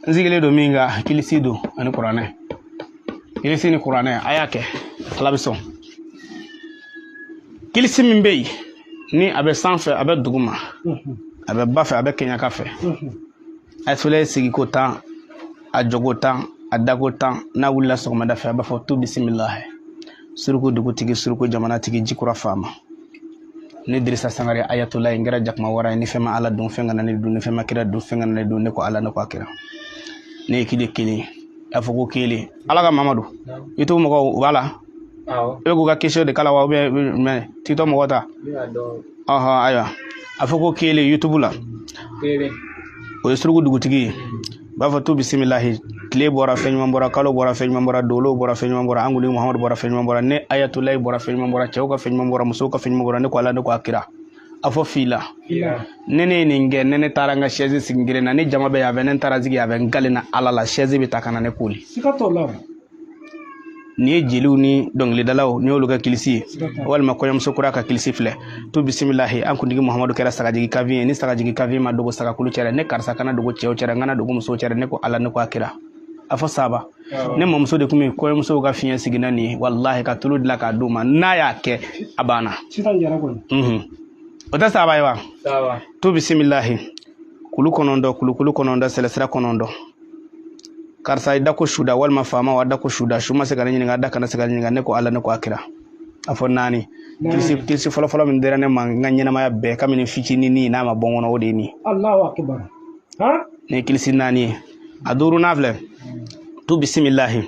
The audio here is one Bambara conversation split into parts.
n sigilen don min kan kilisi don ani kuranɛ kilisi ni kuranɛ a y'a kɛ ala bɛ sɔn kilisi min bɛ yen ni a bɛ sanfɛ a bɛ duguma a bɛ ba fɛ a bɛ kɛɲɛka fɛ a filɛ sigiko tan a jɔko tan a dako tan n'a wulila sɔgɔmada fɛ a b'a fɔ tu bisimila suruku dugutigi suruku jamanatigi jikura faama ne dirisa sangare ayatulayi n kɛra jakuma wara ye ni fɛn ma ala dun fɛn kana ne dun ni fɛn ma kira dun fɛn kana ne dun ne ko ala ne ko a kira ne ye kile kelen a fɔ ko kelen ala kama madu youtube mɔgɔw u b'a la i bɛ k'u ka kɛsiyɔn de kalan wa ubiyɛn mɛ tiktok mɔgɔw ta ɔhɔn ayiwa a fɔ ko kelen youtube la o ye suruku dugutigi ye b'a fɔ tu bisimilahi tile bɔra fɛn ɲuman bɔra kalo bɔra fɛn ɲuman bɔra dolo bɔra fɛn ɲuman bɔra an kuntigi muhamadu bɔra fɛn ɲuman bɔra ne ayatulayi bɔra fɛn ɲuman bɔra cɛw ka fɛn ɲuman bɔra musow ka fɛn ɲuman bɔra ne ko ala ne ko a kira a fɔ fila ne ne ye nin kɛ ne ne taara n ka sɛzi sigi kelen na ne jama bɛ yan fɛ ne taara sigi yan fɛ n kelen na ala la sɛzi bɛ ta ka na ne koli n'i ye jeliw ni dɔnkilidalaw n'i y'olu ka kilisi ye walima kɔɲɔmuso kura ka kilisi filɛ tu bisimilahi an kuntigi muhamadu kɛra sagajigi kanfin ye ni sagajigi kanfin ma dogo sagakulu cɛra ne karisa kana dogo cɛw cɛra n kana dogo musow cɛra ne ko ala ne ko a kira a fɔ saba ne mamuso de tun bɛ kɔɲɔmusow ka fiɲɛ sigi ni nin ye walahi ka tulu dilan k'a d'u ma n'a y'a kɛ a banna o tɛ saba ye wa tu bisimilahi kulu kɔnɔntɔn kulukulu kɔnɔntɔn sɛlɛsira kɔnɔntɔn karisa i da ko suda walima faama wa da ko suda su ma se ka ne ɲininka da kana se ka n ɲininka ne ko ala ne ko a kira a fɔ naani kilisi fɔlɔfɔlɔ min dira ne ma n ka ɲɛnamaya bɛɛ kabini fitinin n'a ma bɔ n kɔnɔ o de ye nin ye nin ye kilisi naani ye a duuru n'a filɛ tu bisimilahi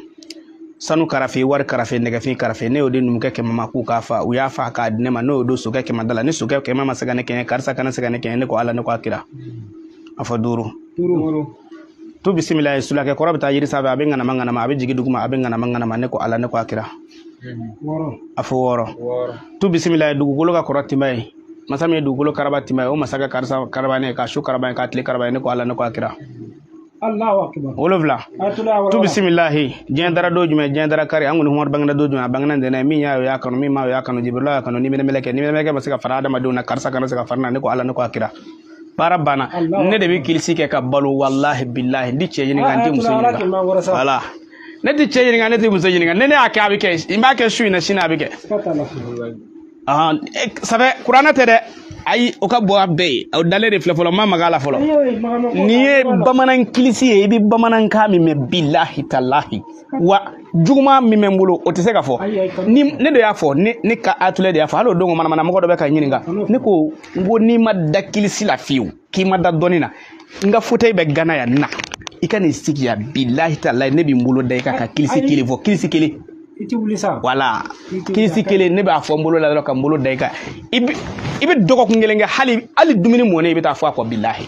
sanu karafe wari karafe nɛgɛfin karafe ne y'o di numukɛ kɛmɛ ma k'u k'a fa u y'a fa k'a di ne ma ne y'o don sokɛ kɛmɛ da la ni sokɛ kɛmɛ ma se ka ne kɛɲɛ karisa kana se ka ne kɛɲɛ ne ko ala ne ko a kira a fɔ duuru tu bisimilahi sulakɛ kɔrɔ bɛ taa yiri sanfɛ a bɛ ŋanama ŋanama a bɛ jigin duguma a bɛ ŋanama ŋanama ne ko ala ne ko a kira a fɔ wɔɔrɔ tu bisimilahi dugukolo ka kɔrɔ tinba ye masa min ye dugukolo karaba tinba ye o masa ka karisa karaba n ye ka su karaba n ye ka tile karaba n ye ne ko ala ne ko a kira wolonfila tu bisimilahi diɲɛ dara don jumɛn diɲɛ dara kari an kuntigi muhamadu bangena don jumɛn a bangena ntɛnɛn min y'a ye o y'a kanu min m'a ye o y'a kanu jibirila y'a kanu ni mɛlɛkɛ ni mɛlɛkɛ ma se ka fara adamadenw na karisa kana se ka fara n na ne ko ala ne ko a kira baara banna ne de bɛ kilisi kɛ ka balo walahi bilahi n ti cɛ ɲininka n ti muso ɲininka wala ne ti cɛ ɲininka ne ti muso ɲininka ni ne y'a kɛ a bɛ kɛ n b'a kɛ su in na sini a bɛ kɛ sɛbɛ kuranɛ tɛ dɛ ayi o ka bon a bɛɛ ye o dalen de filɛ fɔlɔ ma maga a la fɔlɔ nin ye bamanan kilisi ye i bɛ bamanankan min mɛn bilahi talahi wa juguman min bɛ n bolo o tɛ se ka fɔ ni ne de y'a fɔ ne ayatulayi de y'a fɔ hali o don manamana mɔgɔ dɔ bɛ ka n ɲininka ne ko n ko n'i ma da kilisi la fiyewu k'i ma da dɔnni na n ka fauteuil bɛ gana yan na i ka n'i sigi yan bilahi talahi ne bɛ n bolo da i kan ka kilisi kelen fɔ kilisi kelen i tɛ wuli sa wala kilisi kelen ne b'a fɔ n bolo la dɔrɔn ka n bolo da i kan i bɛ i bɛ dɔgɔkun kelen kɛ hali hali dumuni mɔnen i bɛ taa fɔ a kɔ bilahi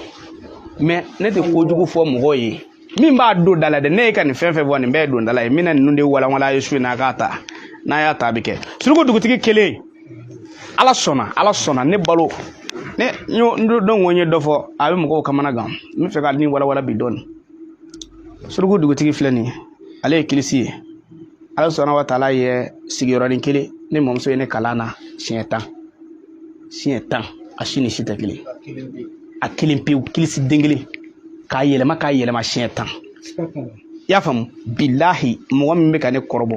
mɛ ne tɛ kojugu fɔ mɔgɔw ye min b'a don da la dɛ ne ye ka nin fɛn fɛn fɔ nin bɛɛ ye don da la ye min na ninnu de walawala a ye su in na a k'a ta n'a y'a ta a bɛ kɛ suruku dugutigi kelen ala sɔnna ala sɔnna ne balo ne y'a dɔn ko n ye dɔ fɔ a bɛ mɔgɔw kamana gan n b'a fɛ ka nin walawala bi dɔɔni suruku dugutigi filɛ nin ye ale ye kilisi ye ala sɔnna wa taala ye sigiyɔrɔnin kelen ne mɔmuso ye ne kalan na siɲɛ tan siɲɛ tan a si ni si tɛ kelen a kelen pewu kilisi den kelen k'a yɛlɛma k'a yɛlɛma siɲɛ tan i y'a faamu bilahi mɔgɔ min bɛ ka ne kɔrɔbɔ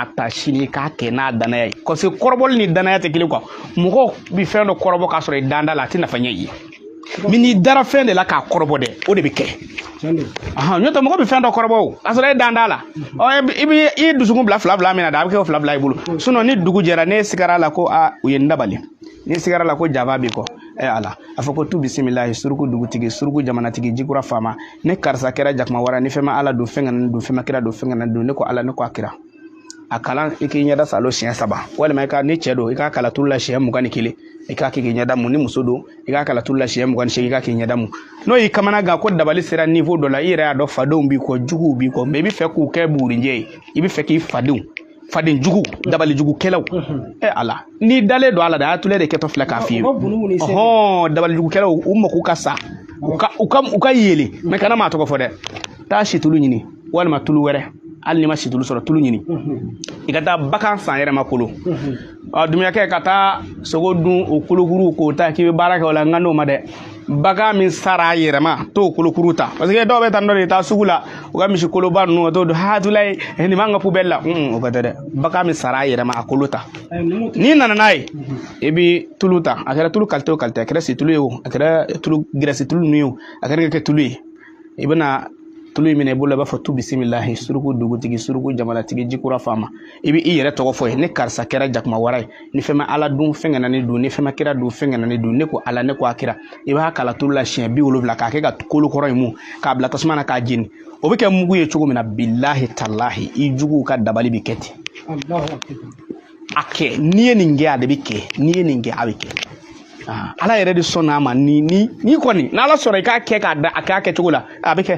a ta sini k'a kɛ n'a danaya ye parce que kɔrɔbɔli ni danaya tɛ kelen kuwa mɔgɔw bɛ fɛn dɔ kɔrɔbɔ k'a sɔrɔ i dan t'a la a tɛ nafa ɲɛ i ye mɛ n'i dara fɛn de la k'a kɔrɔbɔ dɛ o de bɛ kɛ n'o tɛ mɔgɔ bɛ fɛn dɔ kɔrɔbɔ o k'a sɔrɔ e dan t'a la i bɛ i dusukun bila fila fila min na dɛ a bɛ kɛ o fila fila i bolo sinɔn ni dugu jɛra ne sigara a la ko aa u ye n dabali ne sigara a la ko jaba b'i kɔ ɛ ala a fɔ ko tu bisimilahi suruku dugutigi suruku jamanatigi jikura faama ne karisa kɛra jakumawara ni fɛn ma ala dun fɛn kana n dun fɛn ma kira dun fɛn kana n dun ne ko ala ne ko a kira a kalan i k'i ɲɛda saalo siɲɛ saba walima i ka ni cɛ don i k'a kalan tulu la siɲɛ mugan ni kelen i k'a kɛ k'i ɲɛda mun ni muso don i k'a kalan tulu la siɲɛ mugan ni seegin i k'a k'i ɲɛda mun n'o y'i kamana gan ko dabali sera niwo dɔ la i yɛrɛ y'a dɔn fadenw b'i kɔ juguw b'i kɔ mɛ i b'a fɛ k'u kɛ bugurinjɛ ye i b'a fɛ k'i fadenw faden jugu dabali jugu kɛlaw ɛ ala n'i dalen don a la dɛ ayatollah de kɛtɔ filɛ k'a f'i ye ɔhɔn dabali jugu kɛlaw u mako ka sa u ka u ka u ka yelen mɛ kana maa tɔgɔ fɔ dɛ taa situlu ɲini walima tulu wɛrɛ hali n'i ma situlu sɔrɔ tulu ɲini i ka taa bagan sa yɛrɛ ma kolo dumuyakɛ ka taa sogo dun o kolokuru k'o ta k'i bɛ baara kɛ o la n kan t'o ma dɛ bagan min sara a yɛrɛ ma t'o kolokuru ta parce que dɔw bɛ taa dɔ de taa sugu la u ka misi koloba ninnu ka t'o don ayatollah nin b'an ka pubɛli la o ko tɛ dɛ bagan min sara a yɛrɛ ma a kolo ta n'i nana n'a ye i bɛ tulu ta a kɛra tulu kalite o kalite a kɛra situlu ye o a kɛra tulu gɛrɛsi tulu ninnu ye o a kɛra kɛ tulu ye i bɛna tulu in minɛ i bolo i b'a fɔ tu bisimilahi suruku dugutigi suruku jamanatigi jikura faama i bɛ i yɛrɛ tɔgɔ fɔ yen ne karisa kɛra jakuma wara ye ni fɛn ma ala dun fɛn kana ne dun ni fɛn ma kira dun fɛn kana ne dun ne ko ala ne ko a kira i b'a kalan tulu la siɲɛ bi wolonwula k'a kɛ ka kolo kɔrɔ in mun k'a bila tasuma na k'a jeni o bɛ kɛ mugu ye cogo min na bilahi talahi i juguw ka dabali bɛ kɛ ten a kɛ n'i ye nin kɛ a de bɛ kɛ n'i ye nin kɛ a bɛ kɛ ah, ala yɛrɛ de sɔnna a ma ni ni ni kɔni n'ala sɔnna i k'a kɛ k'a da a k'a kɛcogo la a bɛ kɛ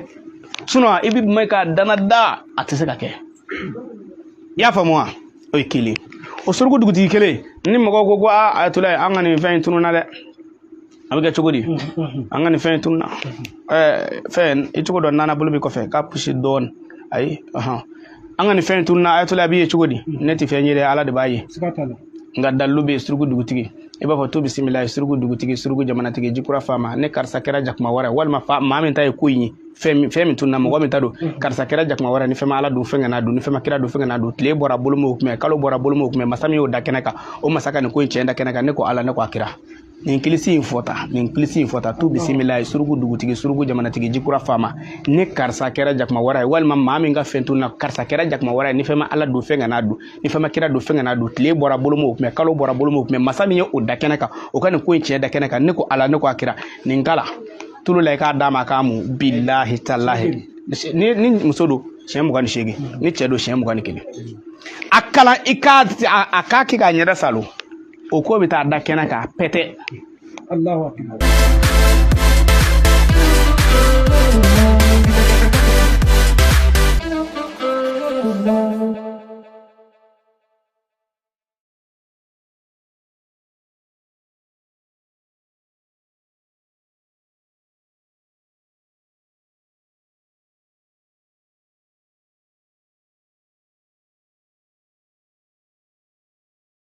sinɔn i bɛ mɛn k'a dana da a tɛ se ka kɛ i y'a faamu wa o ye kelen o suruku dugutigi kelen ni mɔgɔw ko ko aa ayatollah an ka nin fɛn in tununa dɛ a bɛ kɛ cogo di an ka nin fɛn tunna fɛn i cogo dɔ nana bolo bɛ kɔfɛ k'a pusi dɔɔnin ayi an ka nin fɛn tunna ayatollah b'i ye cogo di ne tɛ fɛn ye dɛ ala de b'a ye nka dalilu bɛ suruku dugutigi i b'a fɔ tu bisimilahi suruku dugutigi suruku jamanatigi jikura faama ne karisa kɛra jakuma wara ye walima fa maa min ta ye ko in ye fɛn min fɛn min tunna mɔgɔ min ta don karisa kɛra jakuma wara ye ni fɛn ma ala dun fɛn kan'a dun ni fɛn ma kira dun fɛn kan'a dun tile bɔra bolo m'o kunbɛn kalo bɔra bolo m'o kunbɛn masa min y'o da kɛnɛ kan o masa ka nin ko in cɛn da kɛnɛ kan ne ko ala ne ko a kira nin kilisi in fɔta nin kilisi in fɔta tu bisimilahi suruku dugutigi suruku jamanatigi jikura faama ne karisa kɛra jakuma wara ye walima maa min ka fɛn tunna karisa kɛra jakuma wara ye ni fɛn ma ala dun fɛn kan'a dun ni fɛn ma kira dun fɛn kan'a dun tile bɔra bolo m'o kunbɛn kalo bɔra bolo m'o kunbɛn masa min ye o da kɛnɛ kan o ka nin ko in tiɲɛ da kɛnɛ kan ne ko ala ne ko a kira nin kalan tulu la i k'a d'a ma k'a mun bilahi talahi ni ni muso don siɲɛ mugan ni seegin ni cɛ don siɲɛ mugan ni kelen a kalan i k'a a k'a kɛ k'a ɲɛda saalo o ko bɛ taa da kɛnɛ kan pɛtɛ